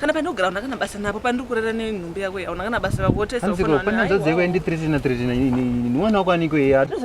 kana pandinogara hauna kana basa napo pandiri kurara nenhumbi yako iyi hauna kana basa rako wotesaanzikopanazadziekwenditritiinatritiinimwana wako aniko iyandiri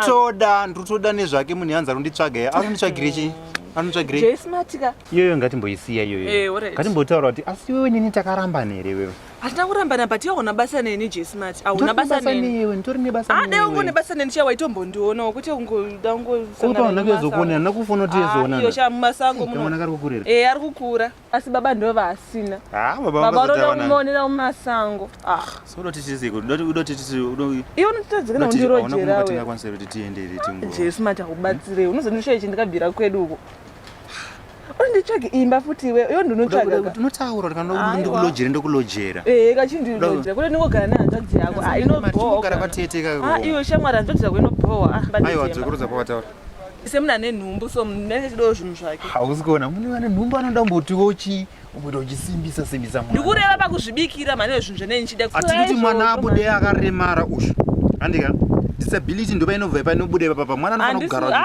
kutoda ndiri kutoda nezvake munhu yanzi arunditsvaga ye arunditsvagire chii anotsvagireiyoyo ngatimboisiya iyoyo eh, ngatimbotaura kuti asi wewe nini takarambana here wewe hatina kurambana but iwe hauna basa neni jesmart hauna basa neniiwe nditori nebasa ade ah, ungo nebasa neni chaiwa itombondionawo kuti ungoda ungozokuona hana kufona kuti yezoonaiyo ah, chamumasango mwana kari kukurira e ari kukura asi baba ndo vaasina ah, baba unoda kumuonera mumasango iwe unotadzika neundirojerawe jesmart akubatsirei unozondishaye chindikabvira kwedu uko unditsvage imba futi iwe iyo ndinotsvagakunotaura ndikulojere ndokulojera ee kachindilojera kule ndingogara nehanzvadzi yako ah, inogara pateteka ah, iwe shamwari hanzvadzi yako inobhowa ah, aiwa dzokorudza pawataura semunhu ane nhumbu so nechidowo zvinhu zvake hausi kuona mune vane nhumbu anoda kumbotiwo chi umboita uchisimbisa simbisa mwana ndikureva pakuzvibikira mhani wezvinhu zvene ndichida atikuti mwana abude akaremara ushu andika disability ndopainobva ipainobuda ipapa mwana anofanira kugara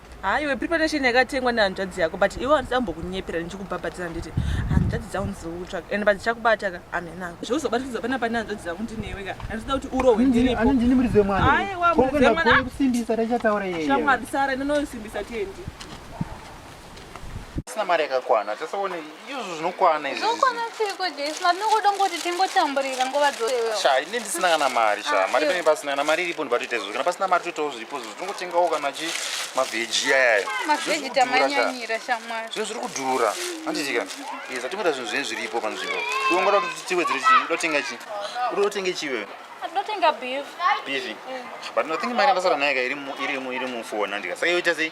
Haa iwe preparation yakatengwa nehanzvadzi yako but iwe handisi ambokunyepera ndichikubhabhatiza nditi hanzvadzi dzangu ndidziri kutsvaka and but ndichakubata ka amenangu zvauzobatidza pana pane hanzvadzi dzangu ndinewe ka handisida kuti urohwe ndinipondini muridzi wemwanaakusimbisa tachataura yeyeshamwari sara ndinosimbisa tiendi sina mari yakakwana tasaone izvo zvinokwana izvizvinokwana seiko jesu matinongoda ngoti tingotamburira nguva dzose sha ine ndisina kana mari sha ah, mari pene pasina kana mari iripo ndibatoita izvo kana pasina mari toitawo zviripo zvo tinongotengawo kana chi mavheji yaya ah, mavheji tamanyanyira shamwari zvinhu zviri kudhura handitika yes atingoita zvinhu zvine zviripo panzvimbo ungoda kuti tiwedzere chii udotenga chii udotenga chii wewe ndotenga beef beef mm. but nothing mari ndasara nayo ka iri mu iri mu iri mu phone andika saka yoita sei